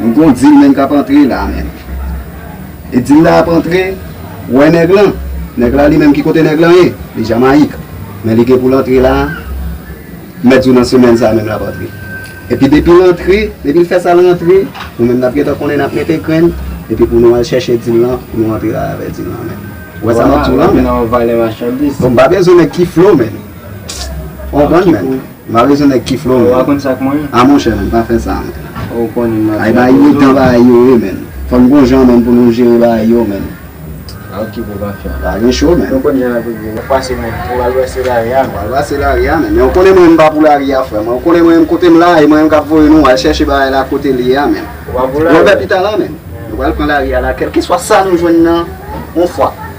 M gon dil menm kap antre la menm e dil la ap antre ou wè nèg lan nèg la li menm ki kote nèg lan ye li jamayik men li gen poul antre la m mèt di w nan semèn sa menm lap antre epi depil antre depil fè sal rantre nou menm nap gentan konnen nap mete grenn epi pou nou al chèche dil lan pou nou antre la avè dil lan menm ou wè sa map di w lan menm m pa bezwen nèg ki flo menm ou konprann menm. Mare sou nèg ki flow man. A monchè man pa fè sa man. Ay bagay yo tan bagay yo ye man. Fòk gon jan man pou nou jere bagay yo man. Pa gen cho man. Wal pase lari a man. Men ou konnen mwen menm pa pou lari a frè man. Ou konnen mwen menm kote m la e mwen menm kap voye nou al chèche bagay la kote li ye a man. Lòbè pita la man. Nou pral pran lari a la kèlkeswa sa nou jwenn nan on fwa.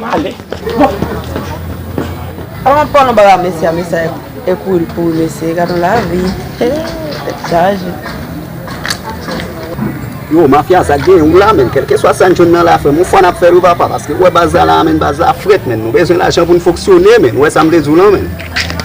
Male. Bon. Avan pran yon bagay mesye a mesye a e kouri pou ou mesye. Gade yon lavi. Tèt chaje. Yo mafya sa gen ou la menn. Kelke swa sa n jwenn nan la frè m. Ou fwa n ap fè l wi papa. Paske ou wè baz la la a menn. Baz la frèt menn. Nou bezwen lajan pou n foksyone menn. Ou wè sa m vle di w lan menn.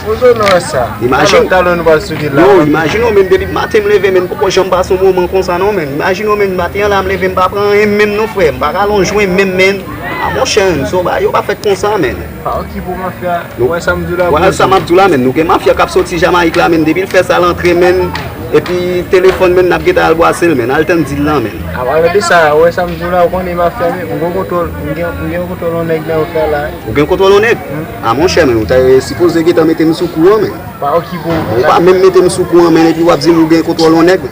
Bozo nou wè sa. Imajine w. Talon nou al sou vil la. Yo imajine w menn. Depi maten m leve menn. M poko janm pase yon moman konsa non menn. Imajine w menn. Maten an la m leve m pa pran anyen menm non frè. M pa rale yon jwen menm menn. Ah mon chè menn son bagay yo pa fèt konsa menn. Pa ok pou mafya nou wè sam diw la bro. Wè sa map diw la menn nou gen mafya kap soti Jamaïque la menn depil fè sal antre menn epi telefòn menn nap gentan al bwasel menn al tann dil lan menn. A pale de sa wè sam diw la ou konnen mafya menn mwen gen kontwòl mwen gen kontwòl on nèg nan rout la la. Ou gen kontwòl on nèg? Ah mon chè menn ou ta sipoze gentan metem sou kou an menn. Pa ok pou mafya. Ou pa menm metem sou kou an menn epi wap dim ou gen kontwòl on nèg.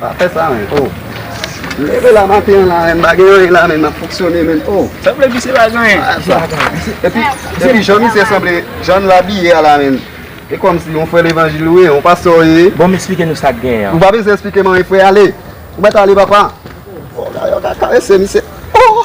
Pa fè sa men oh. M leve la maten an la men m pa gen anyen la menm m ap fonksyone menm oh. Sa vle di se pa gen anyen. Pa fè sa. Epi jan misye sanble, jan l abiye a la menm. E kòmsi yon frè levanjil ou ye, yon pastè ou ye. Bon m esplike nou sa k genyen an. Ou pa bezwen esplike m anyen frè ale. Ou mèt ale papa. Yo ka karese misye oh.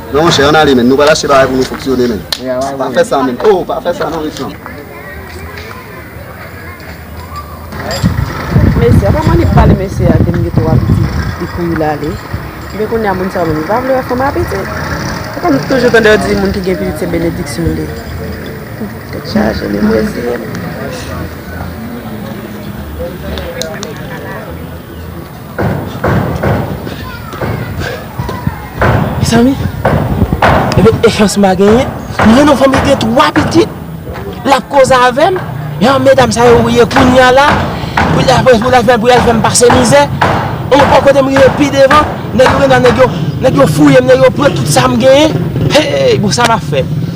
Non monchè an ale men nou pral achte bagay pou nou fonksyone men pa fè sa men oh pa fè sa non mesye. Mesye a pa manke ap pale mesye a kem gen twa pitit epi li ale men kounya moun sa yo menm yo pa vle wè fanm a pitit se konn toujou tande yo di moun ki gen pitit se benediksyon li ye tèt chaje men m reziyen m. Mezanmi, epi e chans mwen pa genyen, m jwenn yon fanm li gen 3 pitit, l ap koze avè m, e an medam sa yo ye kounya la, pou l apre pou l al pou y al fè m pase mizè, e an kote m rive pi devan, nèg yo gen dwa nèg yo fouye m, nèg yo pran tout sa m genyen, heyy bon sa m ap fè.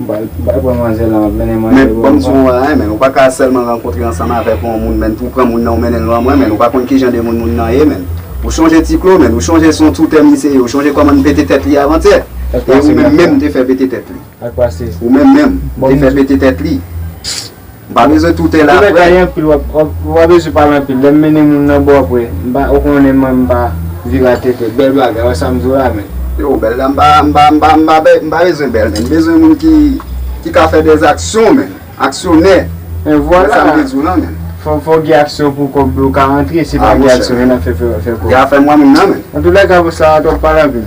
Bay pou manzè lan ap mennen manzè pou yon moun. Men banm di w yon bagay men, ou pa ka sèlman rankontre ansanm avèk yon moun men pou w pran moun nan ou mennen l lan mwen men, ou pa konn kijan de moun moun nan ye men. Ou chonje ti klo men, ou chonje son toutè misye ye, ou chonje kòman n pete tèt li avantiyè. E ou menm menm m te fè pete tèt li. Sak pase? Ou menm menm, m te fè pete tèt li. M pa bezwen toute la aprè. Ou bay anpil ou pa bezwen pale anpil lèm mennen moun nan bò aprè m pa ou konnen mwen m pa vira tete bèl bagay wè sam diw la men. Yo bèl la m pa m pa m pa m pa bezwen bèl menn m bezwen moun ki ki ka fè des aksyon menn aksyonè e vwala wè sam vle diw lan menn. Fòw gen aksyon pou kòb yo ka rantre si pa gen aksyon yo nan fè fè kòb. Gen afè m wè moun nan menn. Antoulèka pou sa a twòp pale anpil.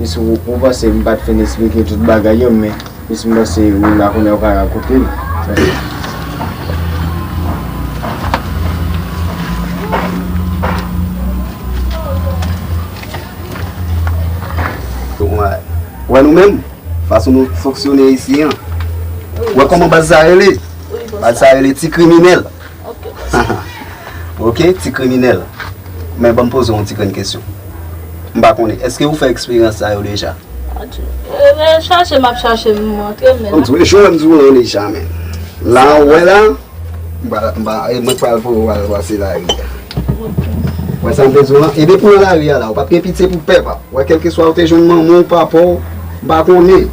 Miss ou panse m pat fin esplike tout bagay yo men miss m panse ou la kounye a ou ka rakonte l paske. Wè nou menm fason nou fonksyone isi an wè kòman baz sa rele baz sa rele ti kriminèl Ok ti kriminèl Men banm poze w yon ti grenn kesyon M pa konnen Eske ou fè eksperyans sa yo deja? Mwen chache map chache m antre men la Ou jwenn m di w lan deja men La ou wè la Mwen pral voye w al pase lari a Ou wè sa m vle di w lan E depi w lan lari a la ou pap gen pitye pou pèp a Ou wè kèlkeswa ou te jwenn manman w papa w M pa konnen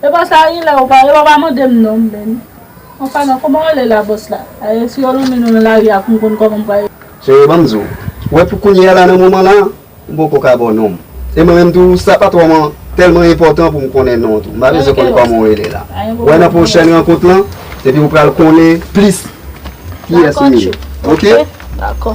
Epa sa rilè ou pa yo pa mandem non menn an palan koman rele la boss la ayè si yo lonmen nou nan lari a poum konn komanm pral. Chérie banm di w, ou wè pou kounye a la nan moman la m poko ka baw nonm e mwen menm tou sa pa twò man tèlman enpòtan pou m konnen non w tou m pa bezwen konn kòman w rele la wè nan pwochèn rankont lan epi ou pral konnen plis kiyès m ye ok. Dakò.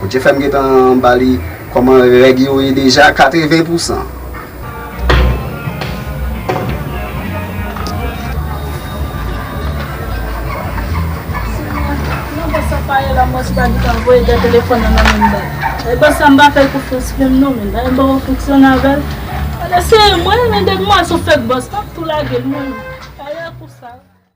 Bondye fèm gentan bali kòman règ yo ye deja 80 pousan.